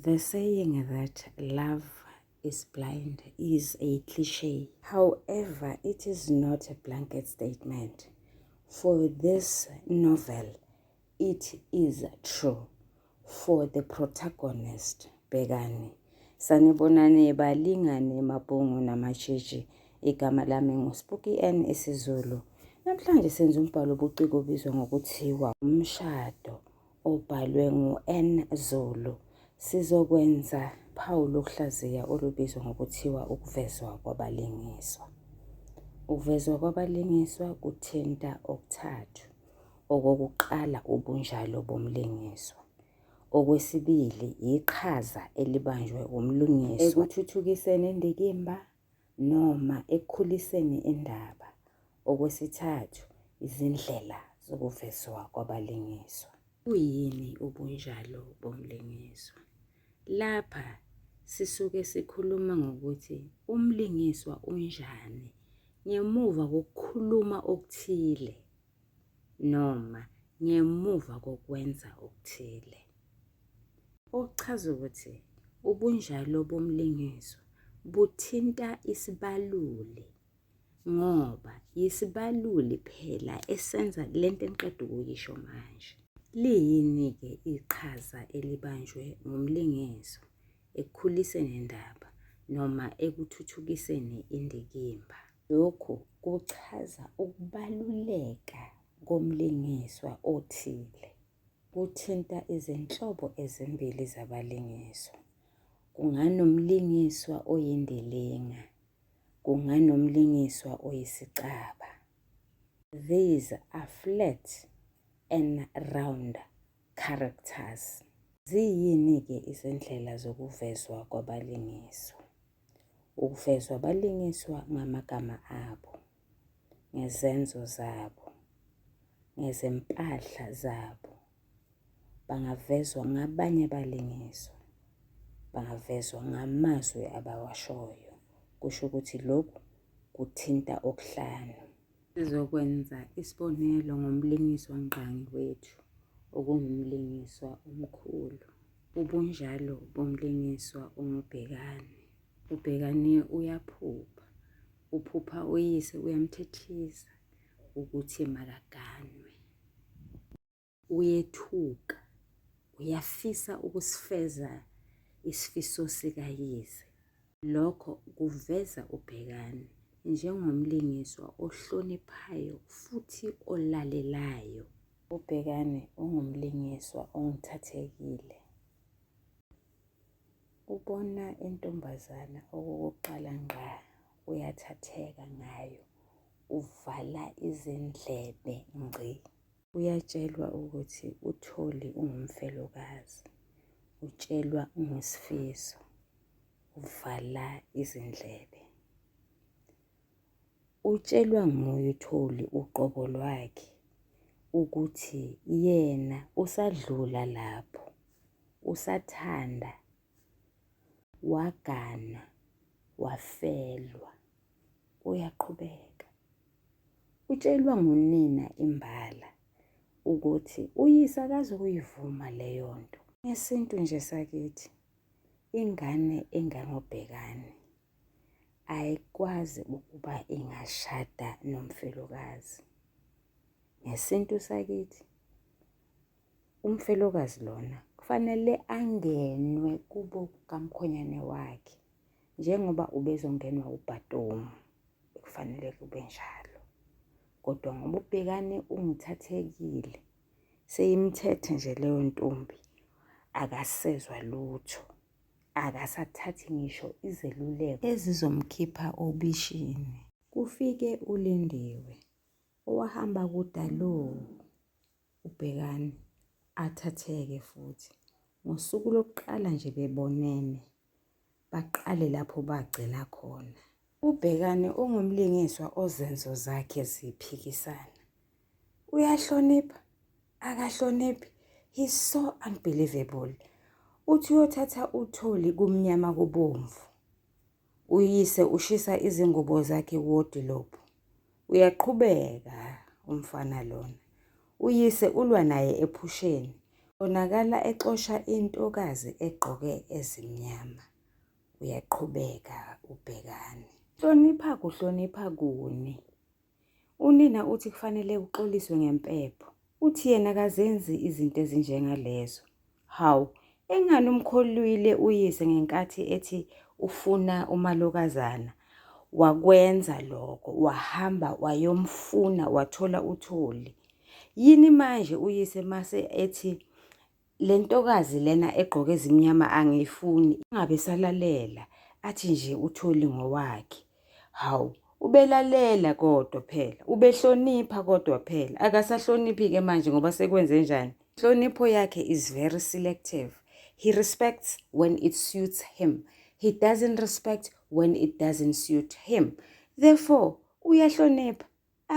The saying that love is blind is a cliche. However, it is not a blanket statement. For this novel, it is true. For the protagonist, Begani. Sanibonani balingane mabhungu namasheshi. Igama lami nguSpooky N isiZulu. Namhlanje senza umbhalo obuciko obizwa ngokuthiwa umshado. obhalwe ngu-N Zulu, sizokwenza phawu lokuhlaziya olubizwa ngokuthiwa ukuvezwa kwabalingiswa. Ukuvezwa kwabalingiswa kuthinta okuthathu. Okokuqala ubunjalo bomlingiswa. Okwesibili yiqhaza elibanjwe umlingiswa ekuthuthukiseni indikimba noma ekukhuliseni indaba. Okwesithathu, izindlela zokuvezwa kwabalingiswa. Buyini ubunjalo bomlingiswa? Lapha sisuke sikhuluma ngokuthi umlingiswa unjani ngemuva kokukhuluma okuthile noma ngemuva kokwenza okuthile. Okuchaza ukuthi ubunjalo bomlingiswa buthinta isibaluli ngoba yisibaluli phela esenza le nto engiqeda ukuyisho manje. Liyini-ke iqhaza elibanjwe ngumlingiso ekukhuliseni indaba noma ekuthuthukiseni indikimba? Lokhu kuchaza ukubaluleka komlingiswa othile. Kuthinta izinhlobo ezimbili zabalingiswa. Kunganomlingiswa oyindilinga, kunganomlingiswa oyisicaba. These are flat and round characters. Ziyini-ke izindlela zokuvezwa kwabalingiswa? ukuvezwa balingiswa ngamagama abo, ngezenzo zabo, ngezempahla zabo, bangavezwa ngabanye abalingiswa, bangavezwa ngamazwi abawashoyo, kusho ukuthi lokhu kuthinta okuhlanu. Sizokwenza isibonelo ngomlingiswa ngqangi wethu okungumlingiswa omkhulu. Ubunjalo bomlingiswa ungubhekani. Ubhekani uyaphupha. Uphupha uyise uyamthethisa ukuthi makaganwe. Uyethuka, uyafisa ukusifeza isifiso sikayize. Lokho kuveza uBhekani njengomlingiswa ohloniphayo futhi olalelayo. UBhekani ungumlingiswa ongithathekile. Ubona intombazana okokuqala ngqa uyathatheka ngayo, uvala izindlebe ngci. uyatshelwa ukuthi utholi ungumfelokazi utshelwa ungesifiso uvala izindlebe utshelwa nguye utholi uqobo lwakhe ukuthi yena usadlula lapho usathanda Wagana, wafelwa, uyaqhubeka. Utshelwa ngunina imbala ukuthi uyise akazukuyivuma leyo nto. Ngesintu nje sakithi, ingane engangobhekane ayikwazi ukuba ingashada nomfelokazi. Ngesintu sakithi umfelokazi lona kufanele angenwe kubo kamkhonyane wakhe njengoba ubezongenwa ubhatomu kufanele kube njalo kodwa ngoba ubhekane ungithathekile seyimthethe nje leyo ntombi akasezwa lutho akasathathi ngisho izeluleko ezizomkhipha obishini kufike ulindiwe owahamba kudaloo uBhekani athatheke futhi. Ngosuku lokuqala nje bebonene, baqale lapho bagcina khona. UBhekani ungumlingiswa ozenzo zakhe ziphikisana. Uyahlonipha, akahloniphi, he's so unbelievable. Uthi uyothatha uthuli kumnyama kubomvu. Uyise ushisa izingubo zakhe wodilobhu. Uyaqhubeka umfana lona. Uyise ulwa naye ephusheni. Bonakala exosha intokazi egqoke ezimnyama. Uyaqhubeka ubhekani. Hlonipha kuhlonipha kuni. Unina uthi kufanele uxoliswe ngempepho. Uthi yena kazenzi izinto ezinjengalezo. Hawu, engani umkholwile uyise ngenkathi ethi ufuna umalokazana. Wakwenza lokho, wahamba wayomfuna wathola uthuli. Yini manje uyise mase ethi Le ntokazi lena egqoke ezimnyama angiyifuni, ingabe esalalela athi nje utholi ngowakhe. Hawu, ubelalela kodwa phela, ubehlonipha kodwa phela, akasahloniphi-ke manje ngoba sekwenze njani? Inhlonipho yakhe is very selective. He respects when it suits him. He doesn't respect when it doesn't suit him. Therefore, uyahlonipha.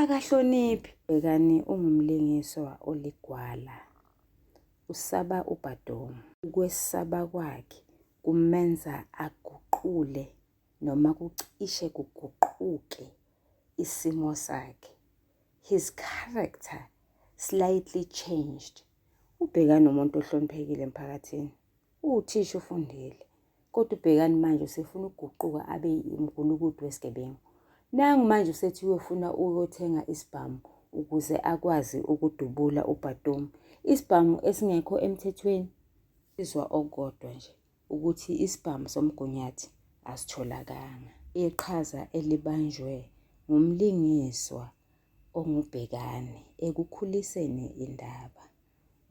Akahloniphi bhekani ungumlingiswa oligwala. Usaba uBadom. Ukwesaba kwakhe kumenza aguqule noma kucishe kuguquke isimo sakhe. His character slightly changed. Ubhekani umuntu ohloniphekile emphakathini. Uwuthisha ufundile. Kodwa ubhekani manje usefuna ukuguquka abe umgulukudu wesigebengu. Nangu manje usethi uyofuna ukuyothenga isibhamu ukuze akwazi ukudubula ubhatomu. Isibhamu esingekho emthethweni izwa okodwa nje ukuthi isibhamu somgunyathi asitholakanga. Iqhaza elibanjwe ngumlingiswa ongubhekani ekukhuliseni indaba.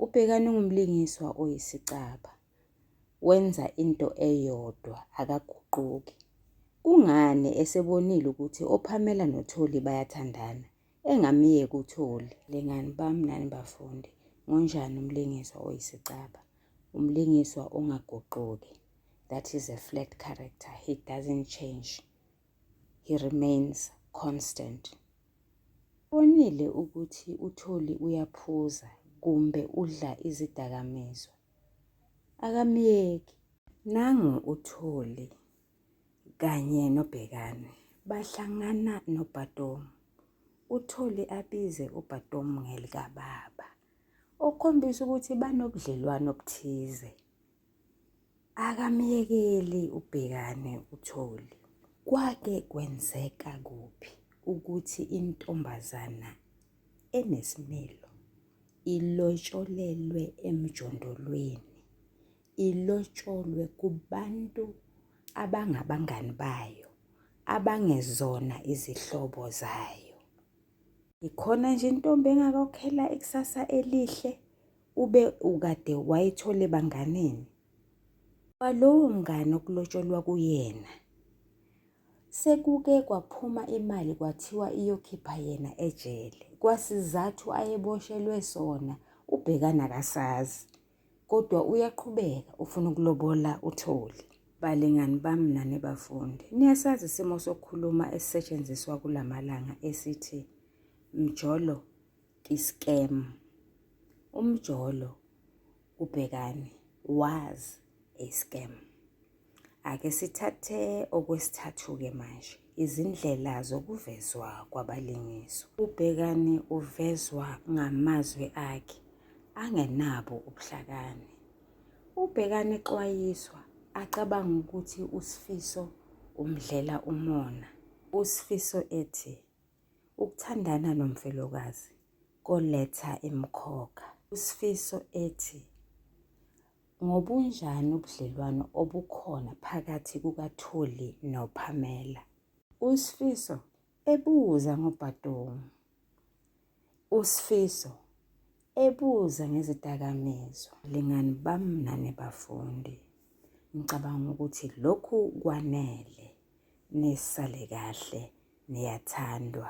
Ubhekani ungumlingiswa oyisicaba. wenza into eyodwa akaguquki. Kungani esebonile ukuthi oPhamela noTholi bayathandana engamyeki uTholi? Lingani bami nani bafundi, ngonjani umlingiswa oyisicaba? Umlingiswa ongaguquki. That is a flat character. He doesn't change. He remains constant. Bonile ukuthi uTholi uyaphuza kumbe udla izidakamizwa. akamyeki nangu uthuli kanye nobhekane bahlangana nobhatomu uthuli abize ubhatomu ngelikababa okukhombisa ukuthi banobudlelwano obuthize akamyekeli ubhekane uthuli kwake kwenzeka kuphi ukuthi intombazana enesimilo ilotsholelwe emjondolweni ilotsholwe kubantu abangabangani bayo abangezona izihlobo zayo ikhona nje intombi engakhokhela ikusasa elihle ube ukade wayithole banganeni kwalowo mngane okulotsholwa kuyena Sekuke kwaphuma imali kwathiwa iyokhipha yena ejele. Kwasizathu ayeboshelwe sona ubhekana kasazi. Kodwa uyaqhubeka ufuna ukulobola utholi. Balingani bami nani bafundi, niyasazi isimo sokukhuluma esisetshenziswa kulamalanga esithi mjolo kiskem. Umjolo ubhekani wazi i-scam. Ake sithathe okwesithathu-ke manje izindlela zokuvezwa kwabalingiswa. Ubhekani uvezwa ngamazwi akhe angenabo ubuhlakani. Ubhekani exwayiswa acabanga ukuthi uSifiso umdlela umona. USifiso ethi ukuthandana nomfelokazi koletha imkhokha. USifiso ethi Ngobunjani ubudlelwano obukhona phakathi kukaThuli noPamela? USfiso ebuza ngoBhadong. USfiso ebuza ngezidakamizwa. Lingani bamnane bafundi. Ngicabanga ukuthi lokhu kwanele. Nisale kahle niyathandwa.